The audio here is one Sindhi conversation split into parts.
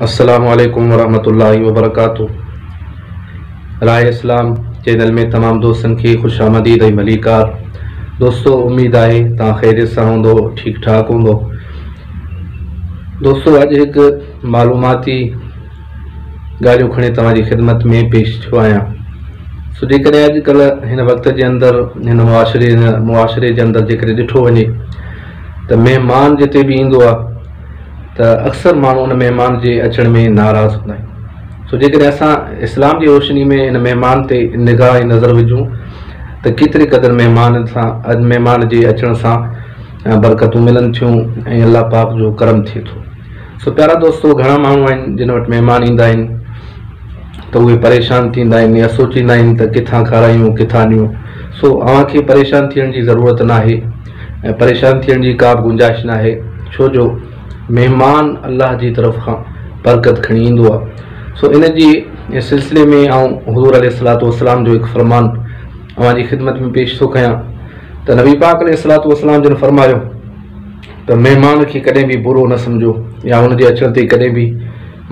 السلام عليڪم ورحمة الله وبرڪاته راء اسلام چينل ۾ تمام دوستن کي خوش آمديد ۽ ڀليڪار دوستو اميد آهي توهان خيريت سان هوندو ٺيڪ ٺاڪ هوندو دوستو اڄ هڪ معلوماتي ڳالهيون کڻي توهان جي خدمت ۾ پيش ٿيو آهيان سو جيڪڏهن اڄڪلهه هن وقت جي اندر هن معاشري هن معاشري جي اندر جيڪڏهن ڏٺو وڃي ته مهمان جتي به ايندو آهي ته اڪثر ماڻهو ان مهمان جي اچڻ ۾ ناراض هوندا آهن سو جيڪڏهن اسان اسلام جي روشني ۾ ان مهمان تي نگاهه ۽ نظر وجهون ته ڪيتري قدر مهمان سان مهمان جي اچڻ سان برڪتون ملن ٿيون ۽ الله پاڪ جو ڪرم ٿئي ٿو سو پيارا دوستو گهڻا ماڻهو آهن جن وٽ مهمان ايندا آهن ته اهي پريشان ٿيندا آهن يا سوچيندا آهن ته ڪٿان کارايون ڪٿان ڏيون سو اوهان کي پريشان ٿيڻ جي ضرورت ناهي ۽ پريشان ٿيڻ جي ڪا به گنجائش ناهي، ڇو جو مهمان الله جي طرف کان برڪت کڻي ايندو آهي، سو ان جي سلسلي ۾ آئون حضور عليه الصلوة والسلام جو هڪ فرمان اوهان جي خدمت ۾ پيش ٿو ڪيان ته نبي پاڪ عليه الصلوة والسلام جن فرمايو ته مهمان کي ڪڏهن به برو نه سمجهو يا ان جي اچڻ تي ڪڏهن به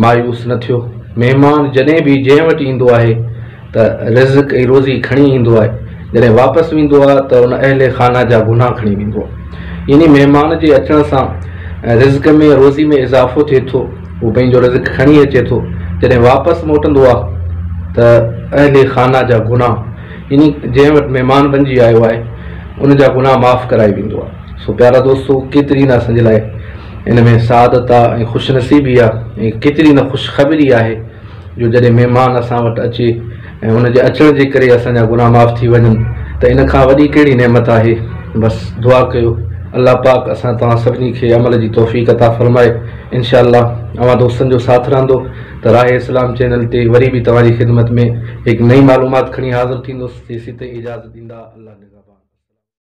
مايوس نه ٿيو، مهمان جڏهن به جنهن وٽ ايندو آهي، ته رزق ۽ روزي کڻي ايندو آهي، جڏهن واپس ويندو آهي ته ان اهل خانه جا گناهه کڻي ويندو آهي. يعني مهمان جي اچڻ سان رزق ۾ روزي ۾ اضافو ٿئي ٿو، هو پنهنجو رزق کڻي اچي ٿو، جڏهن واپس موٽندو آهي ته اهل خانه جا گناهه يعني جنهن وٽ مهمان بنجي آيو آهي ان جا گناهه معاف ڪرائي ويندو آهي. سو پيارا دوستو ڪيتري نه اسان جي لاء ان ۾ سعادت آهي ۽ خوش نصيبي آهي ۽ ڪيتري نه خوشخبري آهي. جو جڏهن مهمان اسان وٽ اچي ۽ ان جي اچڻ جي ڪري اسان جا گناهه معاف ٿي وڃن ته ان کان وڏي ڪهڙي نعمت آهي؟ بس دعا ڪيو الله پاڪ اسان توهان سڀني کي عمل جي توفيق عطا فرمائي انشاء الله اوهان دوستن جو ساٿ رهندو ته راهه اسلام چينل تي وري به توهان جي خدمت ۾ هڪ نئين معلومات کڻي حاضر ٿيندس تيسين تائين اجازت ڏيندا الله نگهبان.